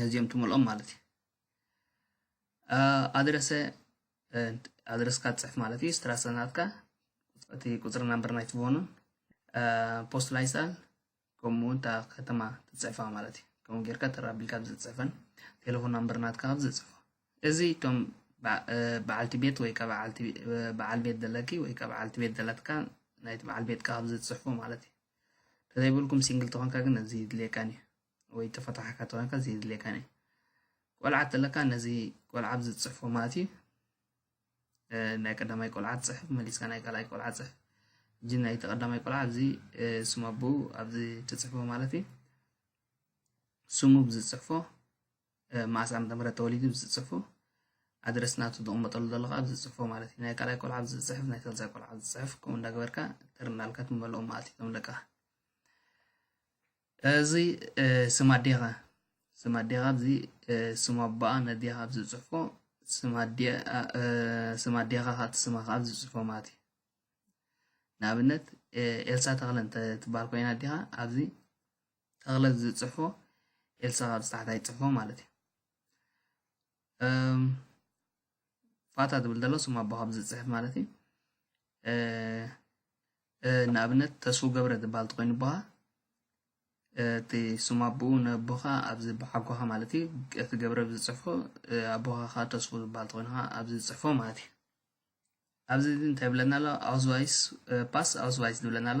ነዚኦም ትምልኦም ማለት እዩ ኣድረሰ ኣድረስካ ትፅሕፍ ማለት እዩ ስትራሰናትካ እቲ ቁፅሪ ናምበር ናይቲ ፎኑን ፖስት ላይሳን ከምኡ እውን እታ ከተማ ትፅሕፋ ማለት እዩ ከምኡ ጌርካ ተራቢልካ ኣብ ዝፅሕፈን ቴሌፎን ናምበር ናትካ ኣብ ዝፅሕፎ እዚ እቶም በዓልቲ ቤት ወይ ካብ በዓል ቤት ዘለኪ ወይ ካብ በዓልቲ ቤት ዘለትካ ናይቲ በዓል ቤትካ ኣብ ዝፅሕፎ ማለት እዩ ተዘይብልኩም ሲንግል ተኾንካ ግን እዚ ይድልየካን እዩ ወይ ተፈታሓካ ተኮንካ ዘይድልየካን እዩ ቆልዓ ተለካ ነዚ ቆልዓ ኣብዚ ዝጽሕፎ ማእቲ ናይ ቀዳማይ ቆልዓ ጽሕፍ መሊስካ ናይ ካልኣይ ቆልዓ ጽሕፍ እጂ ናይ ተቀዳማይ ቆልዓ ኣብዚ ስሙ ኣቦኡ ኣብዚ ትጽሕፎ ማለት እዩ ስሙ ብዝጽሕፎ መዓስ ዓመተ ምህረት ተወሊዱ ብዝጽሕፎ ኣድረስ ናቱ ተቕመጠሉ ዘለካ ኣብዚ ዝጽሕፎ ማለት እዩ ናይ ካልኣይ ቆልዓ ኣብዚ ዝጽሕፍ ናይ ሳልሳይ ቆልዓ ዝጽሕፍ ከምኡ እንዳገበርካ ተርናልካ ትመልኦ ማእቲ ከም ደቃ እዚ ስም ኣዴኻ ስም ኣዴኻ እዚ ስም ኣቦኣ ነዴኻ ኣብ ዝጽሕፎ ስም ኣዴኻ ካብቲ ስማ ከዓ ዝጽፎ ማለት እዩ ንኣብነት ኤልሳ ተኽለ እንተ ትበሃል ኮይና ኣዴኻ ኣብዚ ተኽለ ዝጽሕፎ ኤልሳ ካብ ዝተሓታይ ጽሕፎ ማለት እዩ ፋታ ዝብል ዘሎ ስም ኣቦ ካብ ዝፅሕፍ ማለት እዩ ንኣብነት ተስፉ ገብረ ዝበሃል ተኮይኑ ኣቦኻ እቲ ስም ኣቦኡ ነቦኻ ኣብዚ ብሓጎኻ ማለት እዩ እቲ ገብረ ዝፅሕፎ ኣቦኻ ከዓ ተስፉ ዝበሃል ተኮይኑ ከዓ ኣብዚ ዝፅሕፎ ማለት እዩ ኣብዚ እዚ እንታይ ብለና ኣሎ ኣውስቫይስ ፓስ ኣውስቫይስ ዝብለና ኣሎ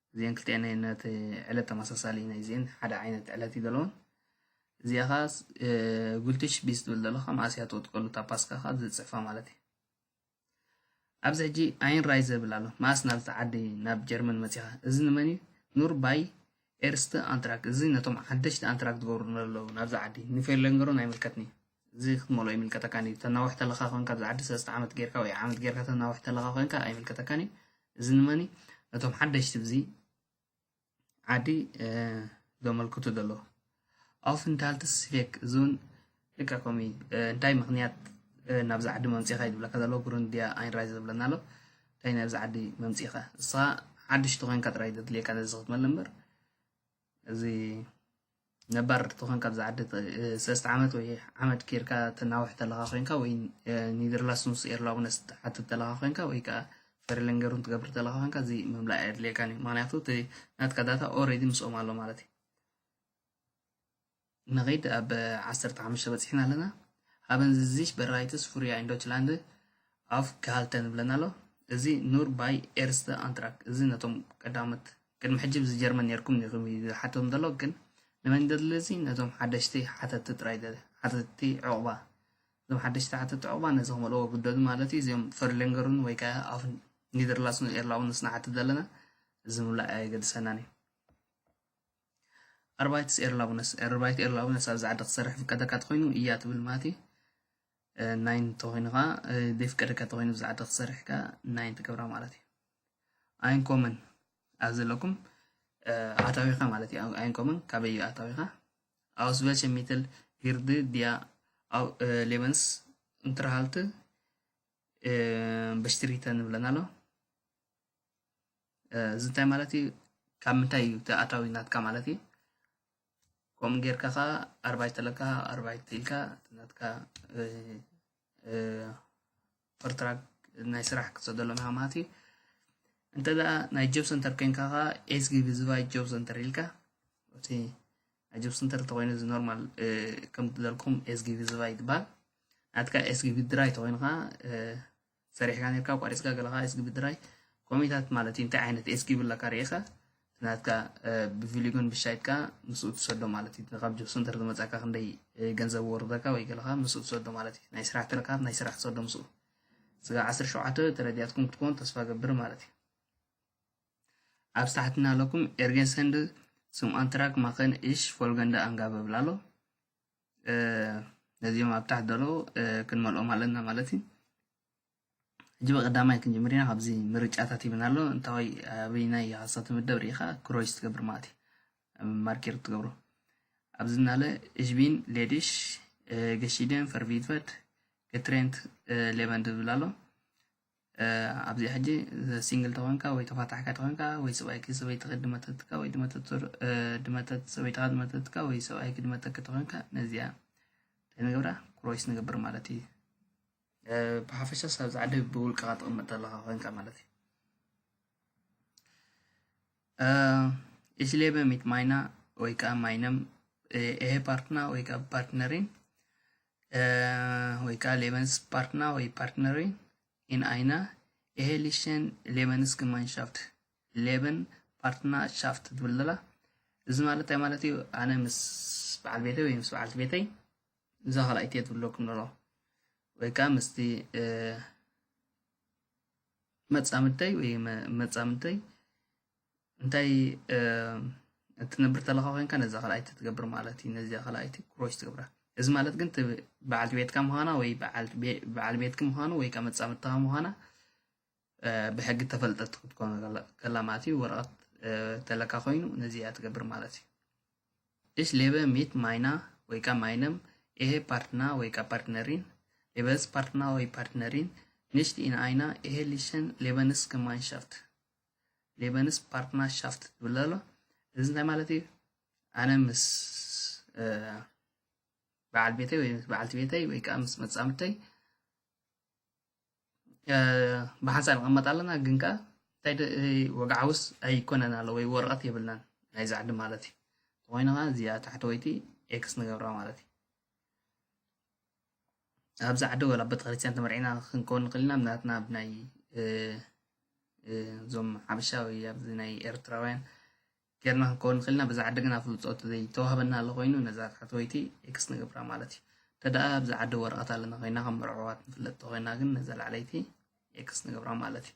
እዚኤን ክልቲኤን ናይ ነቲ ዕለት ተመሳሳሊ ናይ እዚኤን ሓደ ዓይነት ዕለት እዩ ዘለዎን እዚኣ ኸዓ ጉልትሽ ቢስ ትብል ዘለኻ መኣስ እያ ትቕጥቀሉ እታ ፓስካ ኸዓ ዝፅሕፋ ማለት እዩ ኣብዚ ሕጂ ኣይን ራይ ዘብል ኣሎ መኣስ ናብዚ ዓዲ ናብ ጀርመን መፂኻ እዚ ንመን እዩ ኑር ባይ ኤርስተ ኣንትራክ እዚ ነቶም ሓደሽቲ ኣንትራክ ዝገብሩ ዘለዉ ናብዚ ዓዲ ንፌርለንገሮን ኣይምልከትን እዩ እዚ ክትመልኦ ኣይምልከተካን እዩ ተናውሕ ተለካ ኮንካ ኣብዚ ዓዲ ሰለስተ ዓመት ጌርካ ወይ ዓመት ጌርካ ተናውሕ ተለካ ኮንካ ኣይምልከተካን እዩ እዚ ንመኒ ነቶም ሓደሽቲ ብዚ ዓዲ ዘመልክቱ ዘለዉ ኣፍንታልቲ ስፌክ እዚ እውን ልክዕ ከምኡ እዩ እንታይ ምክንያት ናብዚ ዓዲ መምፂኻ እዩ ዝብለካ ዘሎ ጉርንድያ ኣይንራይ ዝብለና ኣሎ እንታይ ናብዚ ዓዲ መምፂኻ ንስኻ ሓድሽቲ ኮንካ ጥራይ ዘድልየካ ነዚ ክትመለ እምበር እዚ ነባር ተኾንካ ኣብዛ ዓዲ ሰለስተ ዓመት ወይ ዓመት ኬርካ ተናውሕ ተለኻ ኮንካ ወይ ኒድርላስንስ ኤርላውነስ ትሓትት ተለኻ ኮንካ ወይ ከዓ ፈሪለንገሩን ትገብር ተለኻ ኮንካ እዚ ምምላእ ኣየድልየካን እዩ ምክንያቱ እቲ ናትካ ዳታ ኦሬዲ ምስኦም ኣሎ ማለት እዩ ንኸይድ ኣብ ዓሰርተ ሓሙሽተ በፂሕና ኣለና ሃበን ዝዚሽ በራይትስ ፍሩያ ኢን ዶችላንድ ኣፍ ክሃልተን ብለና ኣሎ እዚ ኑር ባይ ኤርስተ ኣንትራክ እዚ ነቶም ቀዳሞት ቅድሚ ሕጂ ብዚ ጀርመን ኔርኩም ዲኩም ኢዩ ዝሓቶም ዘሎ ግን ንመን ደልልዚ ነቶም ሓደሽቲ ሓተቲ ጥራይ ደለ ሓተቲ ዑቅባ እዞም ሓደሽቲ ሓተቲ ዑቅባ ነዚ ክመልእዎ ግደዱ ማለት ኢዩ እዚኦም ፈርሌንገሩን ወይ ከኣ ኣፍ ኒደርላሱን ኤርላውንስ ንሓትት ዘለና እዚ ምምላእ ኣየገድሰናን ኢዩ ኣርባይትስ ኤርላውነስ ኣርባይት ኤርላውነስ ኣብዚ ዓዲ ክሰርሕ ፍቀደካ ተኮይኑ ኢያ ትብል ማለት ኢዩ ናይን እንተኾይኑ ከዓ ዘይፍቀደካ እንተኾይኑ ብዛዕባ ዓዲ ክሰርሕ ከዓ ናይን ትገብራ ማለት እዩ ኣይን ኮመን ኣብ ዘለኩም ኣታዊኻ ማለት እዩ ኣይን ኮመን ካበይ እዩ ኣታዊኻ ኣውስ ቨልቸ ሚትል ሂርዲ ዲያ ሌበንስ እንትርሃልት በሽትሪተ ንብለን ኣሎ እዚ እንታይ ማለት እዩ ካብ ምንታይ እዩ እቲ ኣታዊ ናትካ ማለት እዩ ከምኡ ጌርካ ከዓ ኣርባይ ተለካ ኣርባይ ትኢልካ ናትካ ኮንትራክት ናይ ስራሕ ክሰደሎም ኢኻ ማለት እዩ እንተ ደኣ ናይ ጆብ ሰንተር ኮይንካ ከዓ ኤስጊ ብዝባይ ጆብ ሰንተር ኢልካ እቲ ናይ ጆብ ሰንተር እንተኮይኑ እዚ ኖርማል ከም ዝበልኩም ኤስጊ ብዝባይ ይባል ናትካ ኤስጊ ብድራይ ተኮይኑ ከዓ ሰሪሕካ ኔርካ ኣቋሪጽካ ገለ ከኣ ኤስጊ ብድራይ ኮሜታት ማለት እዩ እንታይ ዓይነት ኤስጊ ብላካ ርኢኻ ናትካ ብቪሊጎን ብሻይትካ ምስኡ ትሰዶ ማለት እዩ ካብ ጆብ ሰንተር ዝመጻካ ክንደይ ገንዘብ ወርደካ ወይ ገለካ ምስኡ ትሰዶ ማለት እዩ ናይ ስራሕ ትረካብ ናይ ስራሕ ትሰዶ ምስኡ ስጋ 17 ተረዲያትኩም ክትኮን ተስፋ ገብር ማለት እዩ ኣብ ታሕትና ኣለኩም ኤርጌን ሰንድ ስም ኣንትራክ ማኸን እሽ ፎልገንደ ኣንጋበ ብላሎ ነዚኦም ኣብ ታሕቲ ዘለዉ ክንመልኦም ኣለና ማለት እዩ ሕጂ ብቀዳማይ ክንጅምር ኢና ካብዚ ምርጫታት ይብና ኣሎ እንታወይ ኣበይናይ ሃሳ ትምደብ ርኢኻ ክሮይስ ትገብር ማለት እዩ ማርኬር ትገብሮ ኣብዚ ናለ እሽቢን ሌዲሽ ገሺደን ፈርቪትፈት ገትሬንት ሌበን ዝብል ኣሎ ኣብዚኣ ሕጂ ሲንግል ተኾንካ ወይ ተፋታሕካ ተኾንካ ወይ ሰብኣይኪ ሰበይትኺ ድመተትካ ወይ ድመተት ሰበይትኻ ድመተትካ ወይ ሰብኣይኪ ድመተኪ ተኾንካ ነዚኣ እንታይ ንገብራ ክሮይስ ንገብር ማለት እዩ ብሓፈሻ ሳብ ዝዓዲ ብውልቅኻ ትቕመጥ ኣለኻ ኮንካ ማለት እዩ ኢስሌበ ሚት ማይና ወይ ከዓ ማይነም ኤሄ ፓርትና ወይ ከዓ ፓርትነሪን eh, ወይ ከዓ ሌበንስ ፓርትና ወይ ፓርትነሪን ኢን ኣይነ ኤሄሊሽን ሌበንስ ግማንሻፍት ሌበን ፓርትና ሻፍት ትብል ዘላ እዚ ማለት እንታይ ማለት እዩ ኣነ ምስ በዓል ቤተይ ወይ ምስ በዓልቲ ቤተይ እዛ ካልኣይቲ እየ ትብለኩም ዘሎ ወይ ከዓ ምስቲ መፃምድተይ ወይ መፃምድተይ እንታይ እትነብር ተለኻ ኮንካ ነዛ ካልኣይቲ ትገብር ማለት እዩ ነዚኣ ካልኣይቲ ክሮች ትገብራ እዚ ማለት ግን በዓልቲ ቤትካ ምዃና ወይ በዓል ቤትኪ ምዃኑ ወይ ከዓ መፃምድትኻ ምዃና ብሕጊ ተፈልጠት ክትኮኑ ከላ ማለት እዩ ወረቐት ተለካ ኮይኑ ነዚኣ ትገብር ማለት እዩ እሽ ሌበ ሚት ማይና ወይ ከዓ ማይነም ይሄ ፓርትና ወይ ከዓ ፓርትነሪን ሌበስ ፓርትና ወይ ፓርትነሪን ንሽት ኢን ኣይና ይሄ ሊሸን ሌበንስ ከማንሻፍት ሌበንስ ፓርትና ሻፍት ትብል ኣሎ እዚ እንታይ ማለት እዩ ኣነ ምስ በዓል ቤተይ ወይ ምስ በዓልቲ ቤተይ ወይ ከዓ ምስ መፃምድተይ ብሓንሳእ ንቐመጥ ኣለና ግን ከዓ እንታይ ወግዓውስ ኣይኮነን ኣሎ ወይ ወረቐት የብልናን ናይ ዛዕዲ ማለት እዩ ተኮይኑ ከዓ እዚኣ ታሕተወይቲ ኤክስ ንገብራ ማለት እዩ ኣብዚ ዓዲ ወላ ቤተክርስትያን ተመርዒና ክንከውን ንኽእል ኢና ናትና ብ ናይ እዞም ሓበሻ ወይ ኣብዚ ናይ ኤርትራውያን ጌርና ክንከውን ንኽእል ኢና በዛ ዓዲ ግን ኣፍልጦ ዘይተዋህበና ኣሎ ኮይኑ ነዛ ታሕተወይቲ ኤክስ ንገብራ ማለት እዩ ተደኣ ኣብዚ ዓዲ ወረቐት ኣለና ኮይና ከም መርዕዋት ንፍለጥ ተኮይና ግን ነዛ ላዕለይቲ ኤክስ ንገብራ ማለት እዩ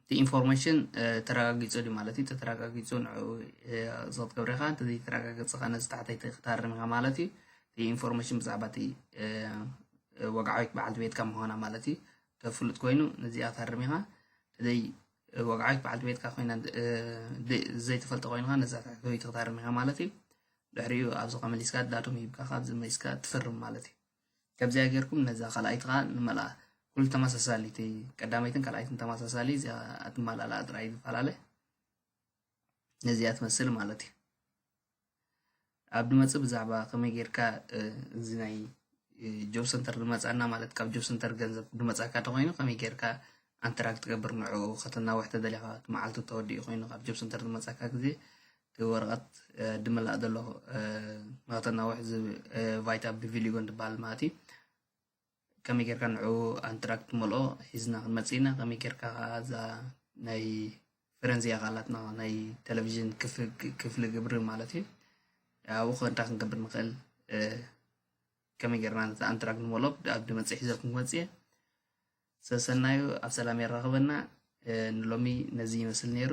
እቲ ኢንፎርሜሽን ተረጋጊፁ ድዩ ማለት እዩ ተተረጋጊፁ ንዕኡ ዝቕት ገብሬኻ እንተዘይተረጋገፀ ኸነ ዝታሕተይቲ ክታርም ኢኻ ማለት እዩ እቲ ኢንፎርሜሽን ብዛዕባ እቲ ወግዓዊት በዓልቲ ቤትካ ምዃና ማለት እዩ ተፍሉጥ ኮይኑ ነዚኣ ታርም ኢኻ ተዘይ ወግዓዊት በዓልቲ ቤትካ ኮይና ዘይተፈልጠ ኮይንካ ነዛ ታሕተይቲ ክታርም ኢኻ ማለት እዩ ድሕሪኡ ኣብዚ ከመሊስካ ዳቶም ሂብካ ካብዚ መሊስካ ትፍርም ማለት እዩ ከምዚኣ ጌርኩም ነዛ ካልኣይቲ ከኣ ንመልኣ ኩሉ ተመሳሳሊ እቲ ቀዳመይትን ካልኣይትን ተመሳሳሊ እዚኣ ኣትመላልኣ ጥራይ ዝፈላለ ነዚኣ ትመስል ማለት እዩ ኣብ ድመፅእ ብዛዕባ ከመይ ጌርካ እዚ ናይ ጆብ ሰንተር ድመፃና ማለት ካብ ጆብ ሰንተር ገንዘብ ድመፃካ ተኮይኑ ከመይ ጌርካ ኣንተራክ ትገብር ንዕኡ ከተናውሕ ተደሊኻ እቲ መዓልቱ ተወዲኡ ኮይኑ ካብ ጆብ ሰንተር ድመፃካ ግዜ እቲ ወረቐት ድምላእ ዘሎ ንኸተናውሕ ቫይታ ብቪሊጎን ትበሃል ማለት እዩ ከመይ ጌርካ ንዑ ኣንትራክ ትመልኦ ሒዝና ክንመፅእ ኢና ከመይ ጌርካ ከዓ እዛ ናይ ፈረንዝያ ካላትና ናይ ቴሌቭዥን ክፍሊ ግብሪ ማለት እዩ ኣብኡ ከንታ ክንገብር ንኽእል ከመይ ጌርና ነቲ ኣንትራክ ንመልኦ ኣብ ድመፅእ ሒዘልኩም ክመፅ እየ ሰሰናዩ ኣብ ሰላም የራኽበና ንሎሚ ነዚ ይመስል ነይሩ